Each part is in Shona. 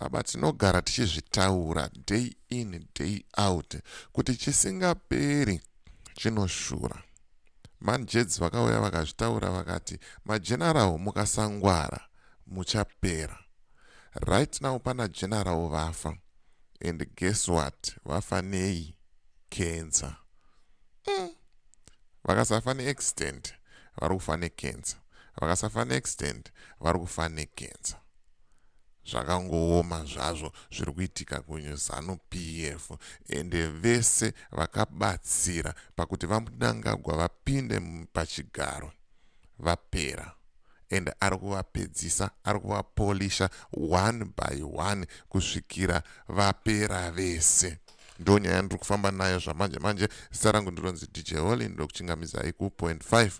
baba tinogara tichizvitaura day in day out kuti chisingaperi chinoshura manjedzi vakauya vakazvitaura vakati majenarawo mukasangwara muchapera right now pana jenarawo vafa and guess what vafa nei kenza mm. Vakasafa ne accident vari kufa ne cancer. Vakasafa ne accident vari kufa ne cancer. Zvakangooma zvazvo zviri kuitika ku Zanu PF ende vese vakabatsira pakuti va Mnangagwa vapinde pachigaro vapera and ari kuvapedzisa ari kuvapolisha one by one kusvikira vapera vese. ndo nyaya yandiri kufamba nayo zvamanje manje zita rangu ndironzi dj holy ndokuchingamidzai kupoint 5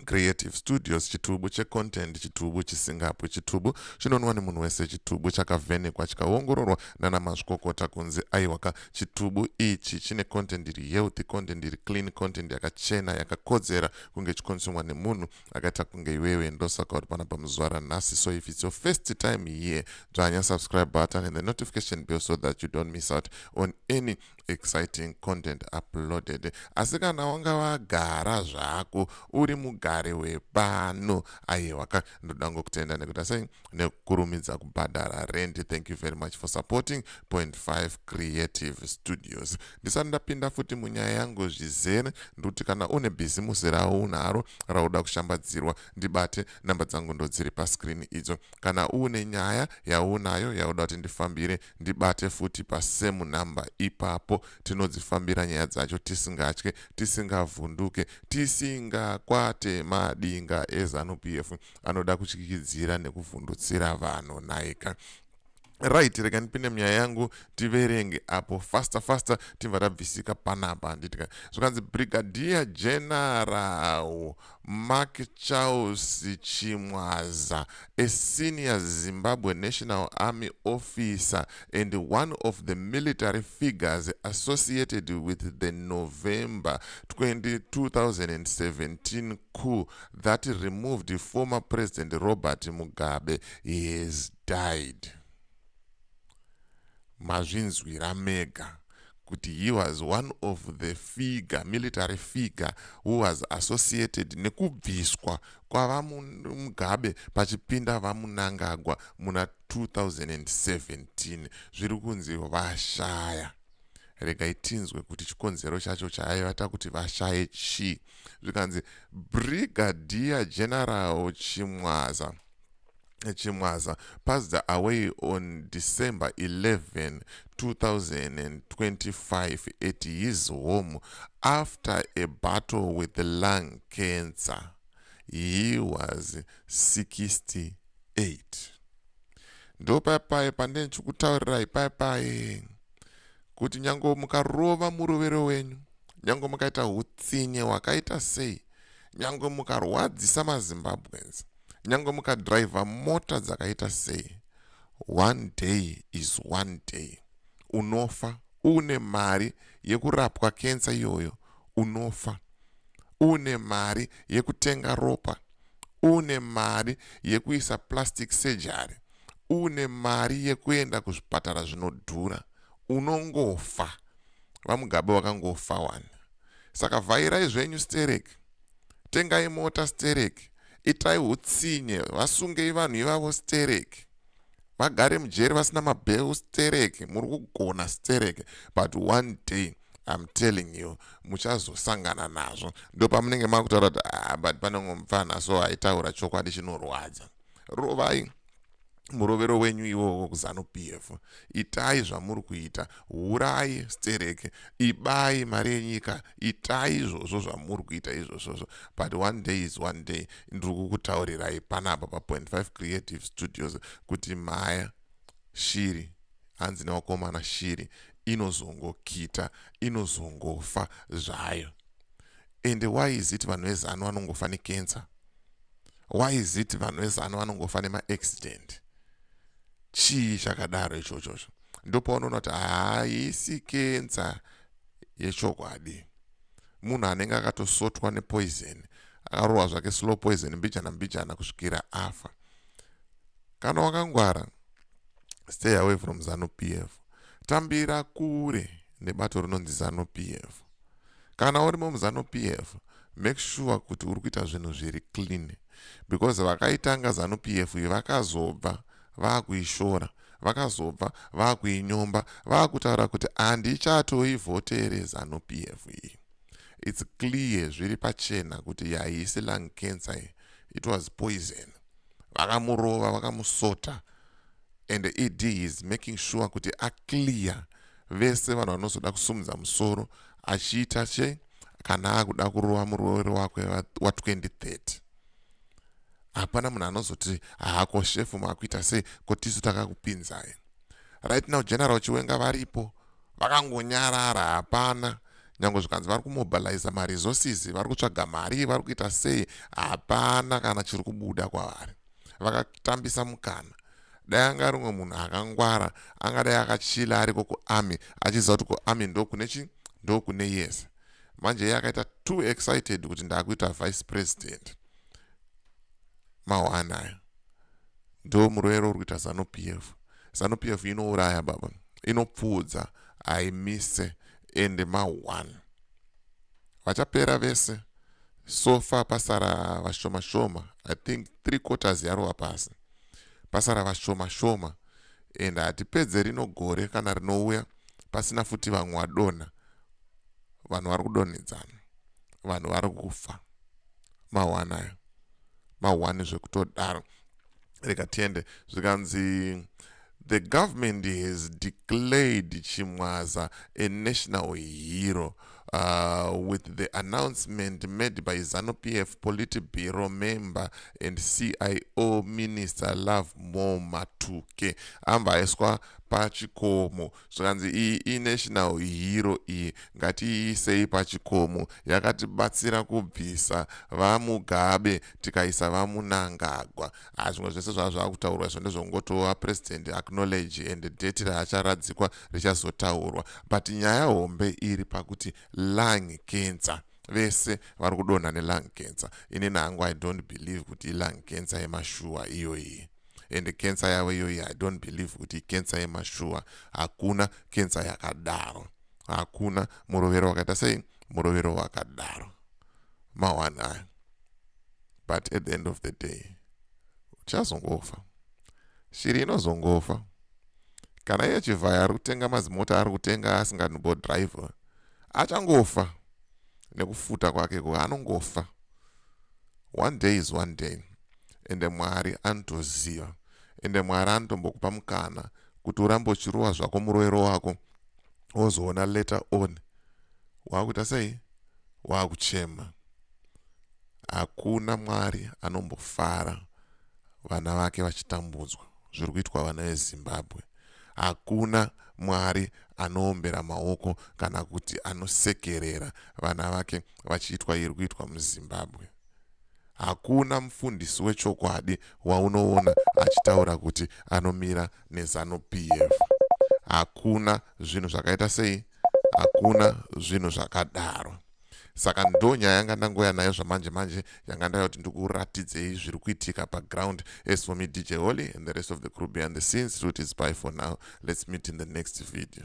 creative studios chitubu checontent chitubu chisingapwi chitubu chinonwa nemunhu wese chitubu chakavhenekwa chikaongororwa nana mazvikokota kunzi aiwaka chitubu ichi chine content iri healthy content iri clean content yakachena yakakodzera kunge chikonsumwa nemunhu akaita kunge iwewe ndosaka uri pana pamuzuva ranhasi so if it's your first time here dzvanya subscribe button and the notification bell so that you don't miss out on any exciting content uploaded asi kana wanga wagara zvako uri mugari wepano aiwaka ndoda ngo kutenda nekuta sei nekukurumidza kubhadhara rent thank you very much for supporting point 5 creative studios Ndisati ndapinda futi munyaya yangu zvizere ndikuti kana une bhizimusi raunaro rauda kushambadzirwa ndibate namba dzangu ndodziri pascreen idzo. Kana uune nyaya yaunayo yauda kuti ndifambire ndibate futi pasame number ipapo tinodzifambira nyaya dzacho tisingatye tisingavhunduke tisingakwate madinga eZanu PF anoda kutyikidzira nekuvhundutsira vanhu nhaika. right rega ndipinde munyaya yangu tiverenge apo faster faster tibva tabvisika panapa handitika zvikanzi brigadier general mark charles chimwaza a senior zimbabwe national army officer and one of the military figures associated with the november 2017 coup that removed former president robert mugabe he has died mazvinzwira mega kuti he was one of the figure military figure who was associated nekubviswa kwavamugabe pachipinda vamunangagwa muna 2017 zviri kunzi vashaya regai tinzwe kuti chikonzero chacho chaaiva takuti vashaye chii zvikanzi brigadier general chimwaza chimwaza passed away on december 11 2025 at his home after a battle with the lung cancer he was 68 ndo paipai pandine ndichikutaurirai paipai kuti nyange mukarova murovero wenyu Nyangwe mukaita hutsinye hwakaita sei, nyangwe mukarwadzisa maZimbabweans, nyangwe mukadriver mota dzakaita sei, one day is one day. Unofa uune mari yekurapwa kensa iyoyo, unofa uune mari yekutenga ropa, uune mari yekuisa plastic surgery, uune mari yekuenda kuzvipatara zvinodhura, unongofa. vamugabe wakangofa wani saka vhairai zvenyu sterek tengai mota sterek itai hutsinye vasungei vanhu ivavo sterek vagare mujeri vasina mabheu sterek muri kugona sterek but one day I'm telling you muchazosangana nazvo ndopamunenge makutaura kuti ah, but panenge mupfana so aitaura chokwadi chinorwadza rovai murovero wenyu iwowo kuzanu p f itai zvamuri kuita urai stereke ibai mari yenyika itai izvozvo zvamuri kuita izvozvozvo but one day is one day ndiri kukutaurirai panapa pa 5 creative studios kuti maya shiri hanzi newakomana shiri inozongokita inozongofa zvayo ende why is it vanhu vezanu vanongofa nekensa why is it vanhu vezano vanongofa nemaaccident chii chakadaro ichochozvo ndopaunoona kuti haisi kenza yechokwadi munhu anenge akatosotwa nepoison akarohwa zvake slow poison mbijana mbijana kusvikira afa kana wakangwara stay away from zanu p f tambira kure nebato rinonzi zanu p f kana uri mumuzanu pf make sure kuti uri kuita zvinhu zviri clean because vakaitanga zanu pf iyi vakazobva vaakuishora vakazobva vaakuinyomba vaakutaura kuti handichatoivhotere zanu pf iyi its clear zviri pachena kuti yaisi lung cancer iyi it was poison vakamurova vakamusota and ed is making sure kuti aclear vese vanhu vanozoda kusumudza musoro achiita che kana akuda kurova muroori wake wa2030 hapana munhu anozoti hako shefu makuita sei ko tisu takakupinzai right now general chiwenga varipo vakangonyarara hapana nyange zvikanzi vari kumobiliza maresources vari kutsvaga mari vari kuita sei hapana kana chiri kubuda kwavari vakatambisa mukana dai anga ari umwe munhu akangwara angadai akachila ariko kuarmy achiziva kuti kuarmy ndokune chi ndokune yese manje iye akaita too excited kuti ndakuita vice president mawanaya ndo murwere uri kuita zanu p f zanu p f inouraya baba inopfuudza haimise ende ma1 vachapera vese So far pasara vashoma shoma I think three quarters yarova pasi pasara vashoma shoma and hatipedze rino gore kana rinouya pasina futi vamwe vadonha vanhu vari kudonhedzana vanhu vari kufa mahwanayo mahwani zvekutodaro rega tiende zvikanzi the government has declared chimwaza a national hero uh, with the announcement made by zanu pf politburo member and cio minister love more matuke amba aiswa pachikomo zvikanzi iyi inational hero iyi ngatiiisei pachikomo yakatibatsira kubvisa vamugabe tikaisa vamunangagwa haa zvimwe zvese zvava zvava kutaurwa izvo ndezvokungotova president acknowledge and date raacharadzikwa richazotaurwa but nyaya hombe iri pakuti lung cancer vese vari kudonha nelung cancer inini hangu i don't believe kuti ilung cancer yemashuwa iyoyi ende cancer yavo iyoyi i don't believe kuti cancer yemashuwa hakuna cancer yakadaro hakuna murovero wakaita sei murovero wakadaro mawani ayo but at the end of the day uchazongofa shiri inozongofa kana iye chivhaya ari kutenga mazimota ari kutenga asinganbo driver achangofa nekufuta kwake ko anongofa one day is one day ende Mwari anotoziva ende Mwari anotombokupa mukana kuti urambe uchirowa zvako muroero wako wozoona later on waakuita sei waakuchema hakuna Mwari anombofara vana vake vachitambudzwa zviri kuitwa vana vezimbabwe hakuna mwari anoombera maoko kana kuti anosekerera vana vake vachiitwa iri kuitwa muzimbabwe Hakuna mufundisi wechokwadi waunoona achitaura kuti anomira neZanu PF. Hakuna zvinhu zvakaita sei? Hakuna zvinhu zvakadaro. Saka ndo nyaya yanga ndangoya nayo zvamanje manje yanga ndaya kuti ndikuratidzei zviri kuitika paground as for me DJ Holly and the rest of the crew behind the scenes route is by for now. Let's meet in the next video.